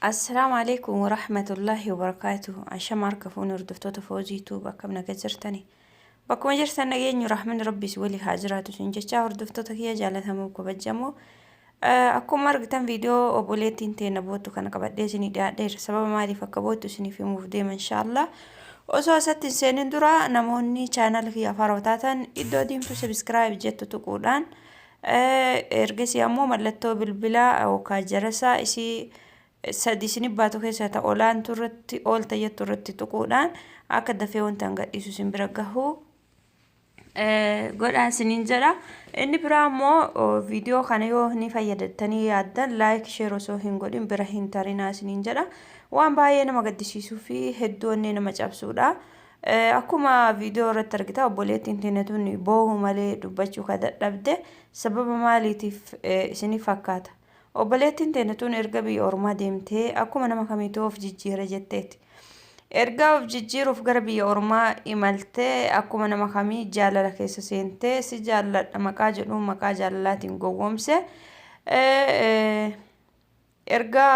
Assalaamu alaikum warahmatullaahi wabarakaatuhu. Ashama harka fuuni hordoftoota Foozii Tuub akkam naga jirtani. Bakkuma jirtan nageenyu rahmanni rabbi si wali haa jiraatu sin jechaa hordoftoota kiyya jaalatamoo kabajamoo. Eh, Akkuma argitan viidiyoo obboleettiin teena boottu kana qabadhee isinii dhiyaadheera. Sababa maaliif akka boottu isiniif himuuf deema inshaallah. Osoo asatti hin seenin dura namoonni chaanal kiyya afaaraa taatan iddoo diimtuu sabiskiraayib jettu tuquudhaan Ergasii ammoo mallattoo bilbilaa yookaan jarasaa isii sadi isin baatu keessaa ta olaantu irratti oolta jettu irratti tuquudhaan akka dafee wanta hanga dhiisu isin bira gahu godhaa isiniin jedha. Inni biraa immoo viidiyoo kana yoo ni fayyadattanii yaaddan laayik sheer osoo hin godhin bira hin tarinaa isiniin jedha. Waan baay'ee nama gaddisiisuu fi hedduu onnee nama cabsuudha. Akkuma viidiyoo irratti argitan obboleettiin teenya tun boohu malee dubbachuu ka dadhabde sababa maaliitiif isiniif fakkaata? Obboleettiin teenya tun erga biyya ormaa deemtee akkuma nama kamiituu of jijjiire jetteeti. Erga of jijjiiruuf gara biyya ormaa imaltee akkuma nama kamii jaalala keessa seentee si jaalladha maqaa jedhuun maqaa jaalalaatiin gowwoomse Erga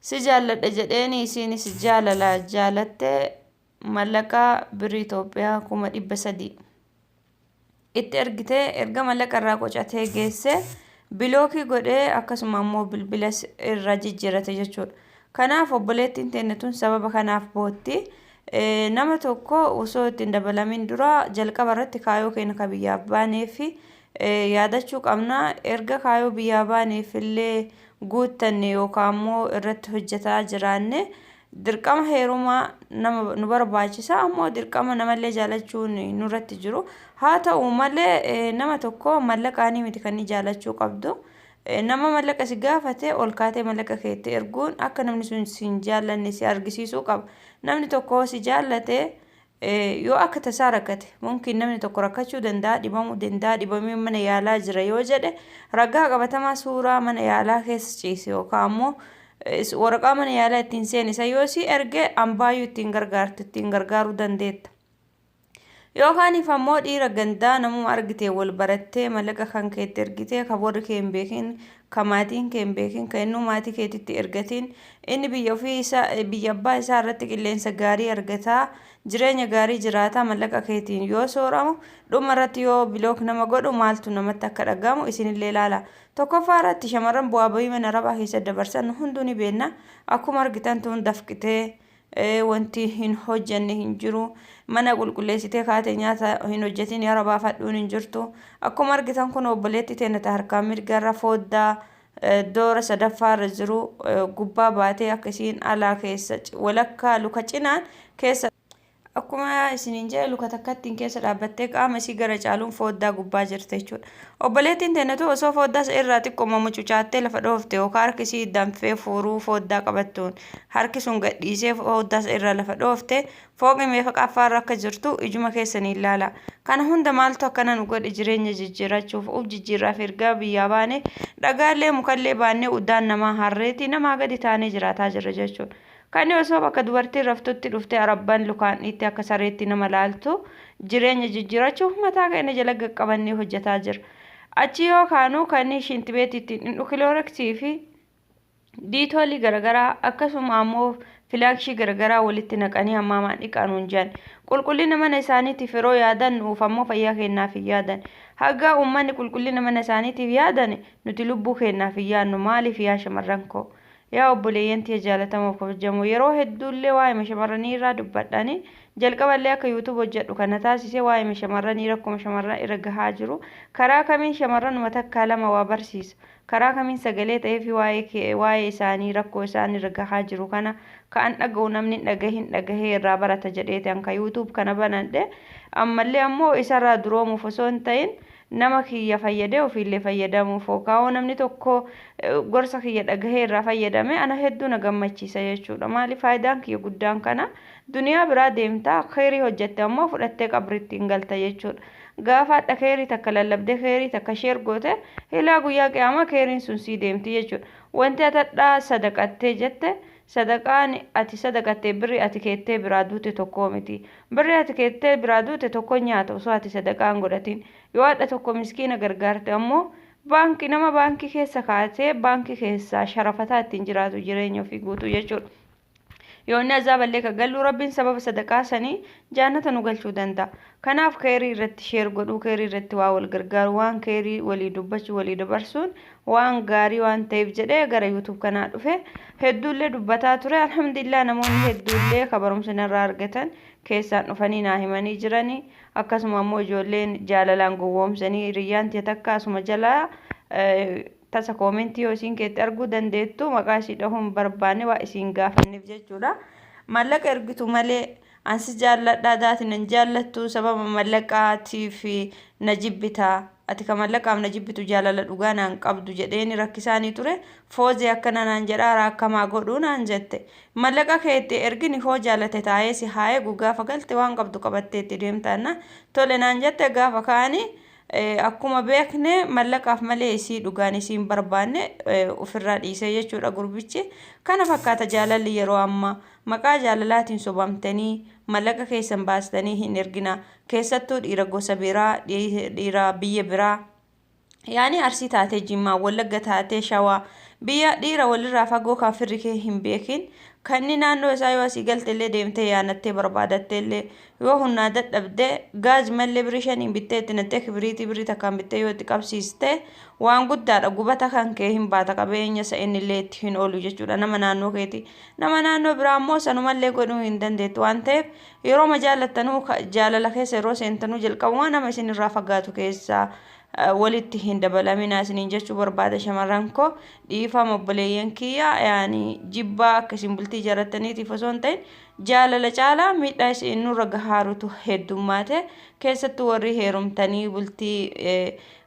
si jaalladha jedheeni isiinis jaalala jaalatte mallaqa birrii Itoophiyaa kuma dhibba sadii itti ergitee erga mallaqa irraa qocatee geesse bilookii godhee akkasuma ammoo bilbilas irra jijjiirate jechuudha. Kanaaf obboleettiin teenne tun sababa kanaaf bootti nama tokko osoo ittiin dabalamin dura jalqaba irratti kaayoo keenya ka biyyaaf baanee fi Yaadachuu qabna, erga kaayoo biyyaa baaneef illee guuttanne yookaan immoo irratti hojjetaa jiraanne dirqama heerumaa nama nu barbaachisa ammoo dirqama namallee jaalachuun nurratti jiru. Haa ta'u malee nama tokko mallaqaanii miti kan inni jaalachuu qabdu. Nama mallaqa si gaafate ol kaatee mallaqa kee itti erguun akka namni sun si hin jaallanne si argisiisuu qaba. Namni tokko si jaallate Yoo akka tasaa rakkate, mumkin namni tokko rakkachuu danda'a, dhibamuu danda'a, dhibamee mana yaalaa jira yoo jedhe, ragaa qabatamaa suuraa mana yaalaa keessa ciise yookaan ammoo waraqaa mana yaalaa ittiin seene san yoo si erge ambaayyuu ittiin gargaartu ittiin gargaaruu dandeetta. Yookaaniif ammoo dhiira gandaa namuma argitee wal barattee mallaqa kan keetti ergitee kan warri kee hin beekin ka maatiin kee hin beekin, ka innuu maatii keetitti ergatiin, inni biyya ofii isaa, biyya abbaa isaa irratti qilleensa gaarii argata, jireenya gaarii jiraata, mallaqa keetiin yoo sooramu, dhuma irratti yoo bilook nama godhu maaltu namatti akka dhaga'amu isinillee ilaala. Tokkoffaa irratti shamarran bu'aa bahii mana arabaa keessa dabarsan hunduu ni beenna. Akkuma argitan tun dafqitee Ee wanti hin hojjanne hin jiru. Mana qulqulleessitee kaate nyaata hin hojjatiin yara baafadhuun hin jirtu. Akkuma argitan kun obboleetti teennata harkaa mirga irra fooddaa doora sadaffaa irra jiru gubbaa baatee akka isiin alaa keessa walakkaa luka cinaan keessa Akkuma isiniin jedhe luka takkattiin keessa dhaabbattee qaama isii gara caaluun fooddaa gubbaa jirte jechuudha. Obboleettiin teenatu osoo fooddaa irraa xiqqooma mucucaattee lafa dhoofte yookaan harki isii danfee fuuruu fooddaa qabattuun Harki sun gad dhiisee foddaas irra lafa dhoofte fooqii meeqaffaarra akka jirtu ijuma keessaniin laala. Kana hunda maaltu akkana nu godhe jireenya jijjiirachuuf uf jijjiirraaf ergaa biyyaa baane dhagaallee mukallee baannee uddaan namaa harreeti namaa gadi taanee jiraataa jirra jechuun. Kani osoo bakka dubartiin raftutti dhuftee arabban lukaan dhiittee akka sareetti nama laaltu jireenya jijjiirachuuf mataa keenya jala gad qabannee hojjetaa jirra. Achi yoo kaanu kani shintibeetiitti hin dhukilooreksii fi diitoolii garagaraa akkasuma ammoo filaakshii garagaraa walitti naqanii hammaamaan dhiqaa nuun jedhan qulqullina mana isaaniitiif yeroo yaadan nuuf ammoo fayyaa keenyaaf hin yaadan hagaa uummanni qulqullina mana isaaniitiif yaadan nuti lubbuu keenyaaf hin yaadnu maaliif yaa shamarran koo yaa obboleeyyan tiyya jaalatamoo kabajamoo yeroo hedduullee waa'ee shamarranii irraa dubbadhani jalqaballee akka yuutuub hojjedhu kana taasise waa'ee shamarranii rakkuma shamarran irra gahaa jiru karaa kamiin shamarranuma takkaa lama waa barsiisa Karaa kamiin sagalee ta'eefii waa'ee waa'ee isaanii rakkoo isaan irra gahaa jiru kana ka an dhaga'u namni hin dhagahin dhagahee irraa barata jedheeti an ka youtube kana banadhe ammallee ammoo isarraa duroomuuf osoo hin ta'in nama kiyya fayyadee ofiillee fayyadamuuf kaawoo namni tokko gorsa kiyya dhagahee irraa fayyadame ana hedduu na gammachiisa jechuudha maali faayidaan kiyya guddaan kana duniyaa biraa deemta kheyrii hojjette ammoo fudhattee qabritti hin galta jechuudha gaafaadha keerii takka lallabdee keerii takka sheer goote hilaa guyyaa qiyaamaa keeriin sun sii deemti jechuudha wanti atadhaa sadaqattee jette sadaqaan ati sadaqattee birri ati keettee biraa duute tokkoo miti birri ati keettee biraa duute tokko nyaata osoo ati sadaqaan godhatiin yoo adha tokko miskiina gargaarte ammoo baankii nama baankii keessa kaatee baankii keessaa sharafataa ittiin jiraatu jireenya ofii guutuu jechuudha. yoo inni azaaballee ka gallu rabbiin sababa sadaqaa sanii jaannata nu galchuu danda'a kanaaf keerii irratti sheer godhuu keerii irratti waa wal gargaaru waan keerii walii dubbachuu walii dabarsuun waan gaarii waan ta'eef jedhee gara yuutuub kanaa dhufe hedduullee dubbataa ture alhamdulillah namoonni hedduullee ka barumsa narraa argatan keessaan dhufanii naa himanii jiranii akkasuma ammoo ijoolleen jaalalaan gowwoomsanii hiriyyaan tiyya takka asuma jalaa Tasa comment yoo isiin keetti arguu dandeettu maqaa isii dhahuu hin barbaanne waan isiin gaafanneef jechuudha. Mallaqa ergitu malee an si jaalladha daati nan jaallattu sababa mallaqaatiif na jibbita ati ka mallaqaaf na jibbitu jaalala dhugaa naan qabdu jedheeni rakkisaanii ture foozee akkana naan jedhaa raakkamaa godhuu naan jette mallaqa kee itti ergini hoo jaalate taa'ee si haa eegu gaafa galte waan qabdu qabattee itti deemtaanna tole naan jette gaafa kaani Akkuma beekne mallaqaaf malee isii dhugaan isii hin barbaanne ofirraa dhiisee jechuudha gurbichi. Kana fakkaata jaalalli yeroo ammaa. Maqaa jaalalaatiin sobamtanii mallaqa keessan baastanii hin ergina. Keessattuu dhiira gosa biraa, dhiira biyya biraa. Yaani arsii taatee jimmaa, wallagga taatee shawaa. Biyya dhiira walirraa fagoo kan firri kee hin beekin. Kanni naannoo isaa yoo asii galte illee deemtee yaanattee barbaadattee illee Yoo humnaa dadhabde gaaz mallee birrii shaniin bittee itti nattee kibiriitii birrii takkaan bittee yoo itti qabsiiste waan guddaadha gubata kan kee hin baata qabeenya isa innillee itti hin oolu jechuudha nama naannoo keeti. Nama naannoo biraa immoo sanumallee godhuu hin dandeettu waan ta'eef yeroo ma jaallattanuu jaalala keessa yeroo seentanuu jalqabumaa nama isinirraa fagaatu keessaa walitti hin dabalaminaa isiniin jechuu barbaada shamarran koo dhiifama obboleeyyan kiyya yaani jibbaa akka isin bultii jaarrattaniitiif osoo hin ta'in Jaalala caalaa miidhaa isiin nurra gahaarutu heddummaate. Keessattu warri heerumtanii bultii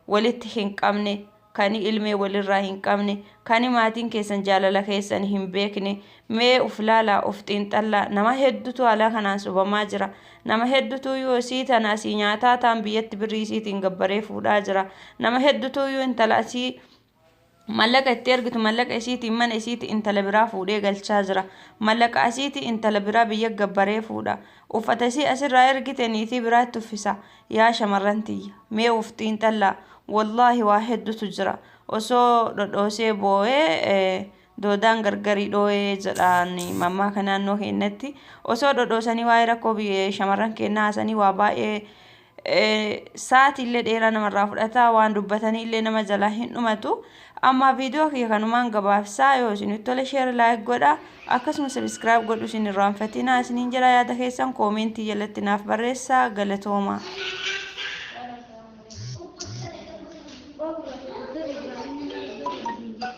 walitti hin qabne, kani ilmee walirraa hin qabne, kani maatiin keessan jaalala keessan hin beekne, mee uf laalaa, uf xiinxallaa. Nama heddutu alaa kanaan subamaa jira. Nama heddutuyyuu isii tana asii nyaataa taan biyyatti birrii isiitiin gabbaree fuudhaa jira. Nama heddutuyyuu intala asii Mallaqa itti ergitu mallaqa isiitiin mana isiiti intala biraa fuudhee galchaa jira. Mallaqa asiiti intala biraa biyya gabbaree fuudha. Uffata isii asirraa ergite niitii biraatti uffisa. Yaa shamarran tiyya. Mee uf xiinxallaa. Wallaahi waa heddutu jira. Osoo dhodhoosee booyee Doodaan gargari dhooyee jedhaan mammaaka naannoo keenyatti osoo dhodhoosanii waa'ee rakkoo biyya shamarran keenyaa haasanii waa baay'ee eh, sa'aatii illee dheeraa namarraa fudhata waan dubbatanii illee nama jalaa hin dhumatu amma viidiyoo kiyya kanumaan gabaabsaa yoo isinitti tole sheer laayik godha akkasuma sabiskiraayib godhu isin irraanfatinaa isiniin jedha yaada keessan koomeentii jalatti naaf barreessaa galatoomaa. Thank you.